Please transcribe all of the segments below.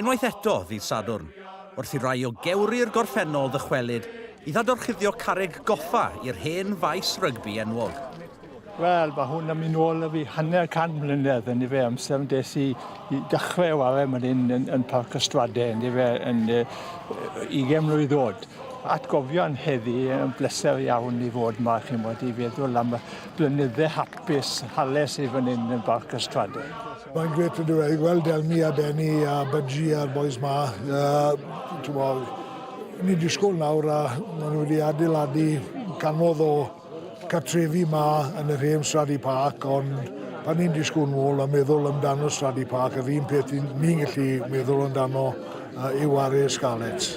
Unwaith eto, ddydd Sadwrn, wrth i rai o gewri'r gorffennol ddychwelyd i ddadorchuddio carreg goffa i'r hen faes rygbi enwog. Wel, mae hwn am un ôl fi hanner can mlynedd yn efe amser yn des i, i dechrau o arau mae'n hyn yn, yn Parc Ystrade yn efe yn uh, 20 mlynedd ddod. Atgofion heddi yn bleser iawn i fod yma, chi'n bod, i feddwl am y blynydde hapus hales i fan hyn yn Parc Ystrade. Mae'n grêt yndyw e, i weld Elmi a Benny a Budgie a'r bois 'ma. Ni'n disgwyl nawr a maen nhw wedi adeiladu canodd o cartrefi 'ma yn yr hen Straddy Park, ond pan ni'n disgwyl nôl a meddwl amdano Straddy Park, yr un peth ni'n gallu meddwl amdano yw ar Scarlets.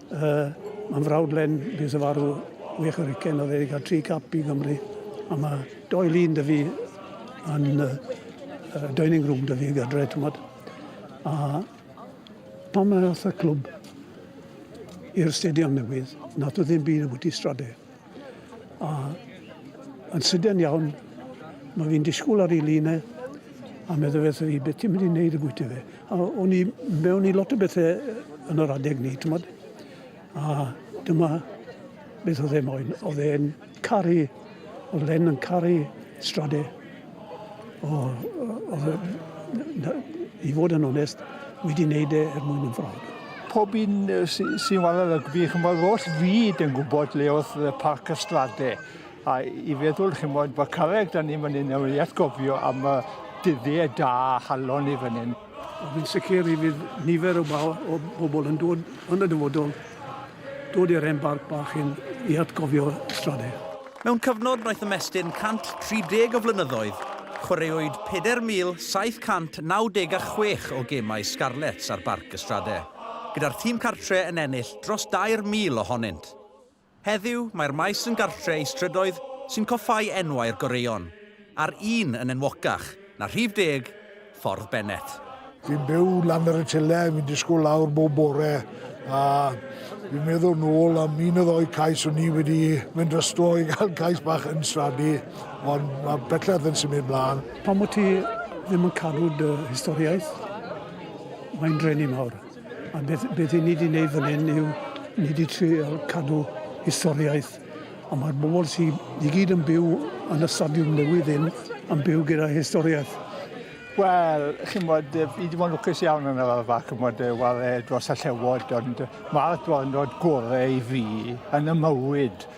Uh, mae'n frawd Len, bydd y farw wych o'r ucen o ddeg a tri cap i Gymru. A mae doi lun dy fi yn uh, dining room dy fi gadre, ti'n bod. A pan mae y clwb i'r stadion newydd, nath o ddim byd o bwyty strade. A yn sydyn iawn, mae fi'n disgwyl ar ei lun e, a meddwl beth fi, beth ti'n mynd i wneud y bwyty fe? A o'n i mewn i lot o bethau yn yr adeg ni, ti'n modd? A dyma beth oedd e moyn. Oedd e'n caru, oedd Len yn caru strade. O, i fod yn onest, wedi wneud e er mwyn yn ffrog. Pob un sy'n wala rygbi, chymod, oll fyd yn gwybod le oedd Parc y Strade. A i feddwl, chymod, bod carreg da ni fan hyn, nawr i atgofio am y dyddie da halon ni fan hyn. Ond yn sicr i fydd nifer o, o bobl yn dod yn y dyfodol, dod i'r hen barc bach hyn i atgofio Strader. Mewn cyfnod wnaeth ymestyn 130 o flynyddoedd, chwaraewyd 4,796 o gemau Scarlets ar Barc y Strade, gyda'r tîm cartre yn ennill dros 2,000 ohonynt. Heddiw, mae'r maes yn gartre i strydoedd sy'n coffáu enwau'r goreuon, a'r un yn enwocach na rhif deg Ffordd Bennett. Fi'n byw lan ar y tyle, fi'n disgwyl lawr bob bore, a fi'n meddwl nôl am un o ddou cais o'n i wedi mynd drosto i gael cais bach yn Stradi, ond mae bellach yn symud mlaen. Pam wyt ti ddim yn cadw dy historiaeth? Mae'n drueni mawr. A beth, beth i ni wedi gwneud fan hyn yw ni wedi trio cadw historiaeth a mae'r bobl sydd i gyd yn byw yn y stadiwm newydd hyn yn byw gyda historiaeth. Wel, chi'n bod, fi wedi bod yn lwcus iawn yn yr arfa, chi'n bod, wale dros y llewod, ond mae'r dwrnod gorau i fi yn y mywyd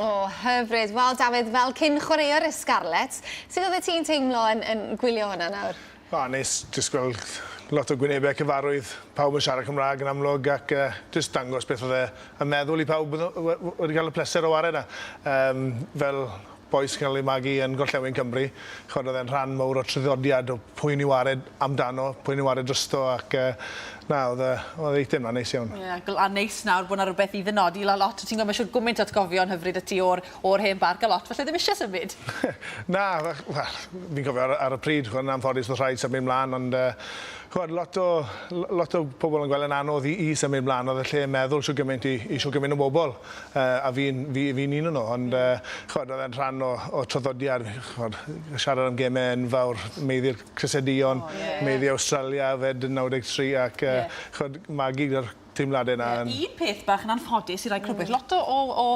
O, hyfryd. Wel, Dafydd, fel cyn chwaraewr y Scarlets, sut oeddet ti'n teimlo yn, yn gwylio hwnna nawr? O, neis jyst gweld lot o gwynebau cyfarwydd, pawb yn siarad Cymraeg yn amlwg ac uh, jyst dangos beth oedd e yn meddwl i pawb wedi cael y pleser o wared yna. Um, fel boes cael ei magu yn Gorllewin Cymru. Chod oedd e'n rhan mawr o tryddodiad o pwy ni wared amdano, pwy ni wared drysto ac uh, Na odd yy odd eitemau neis iawn. Ie gl- a neis nawr bod 'na rwbeth i ddynodi la- lot o ti'n gwel' ma' isio gwmint o atgofion hyfryd 'da ti o'r o'r hen barc a lot falle ddim isie symud. Na fach- wel fi'n cofio ar y ar y pryd ch'mo' yn anffodus o'dd rhaid symud mlan ond yy ch'mod lot o l- lot o pobol yn gwel' e'n anodd i i symud mlan odd y lle yn meddwl shwd gyment i i shwd gyment o bobol yy a fi'n fi fi'n un o nw ond yy ch'mod o'dd e'n rhan o o traddodiad ch'mod siarad am geme enfawr meiddi'r Crysau Duon, Meiddie Awstralia, yfed yn 93 ac yy ch'od magu gyda'r teimlade 'na yn... Ie, un peth bach yn anffodus i rai crybwyll, lot o o o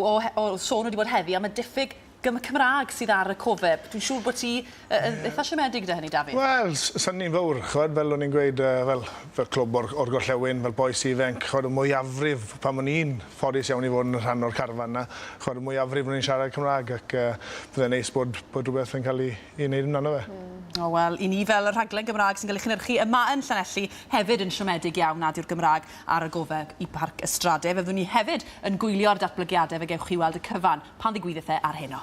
o he- o sôn wedi bod heddi am y diffyg gym- Cymra'g sydd ar y cofeb. Dwi'n siŵr bo' ti yy yn itha siomedig 'da hynny, Dafydd? Wel, s- sa'n ni'n fowr, ch'od, fel o'n i'n gweud yy fel fel clwb o'r o'r gorllewin, fel bois ifenc, ch'od y mwyafrif, pan o'n i'n ffodus iawn i fod yn rhan o'r carfan 'na, ch'od y mwyafrif o'n ni'n siarad Cymra'g ac yy bydde'n neis bod bod rwbeth yn ca'l 'i i wneud amdano fe. Hmm. O wel, i ni fel y rhaglen Gymraeg sy'n cael ei chynhyrchu yma yn Llanelli hefyd yn siomedig iawn nad yw'r Gymraeg ar y gofe i Barc y Strade. Fe fyddwn ni hefyd yn gwylio'r datblygiadau fe gewch chi weld y cyfan pan ddigwyddith e ar heno.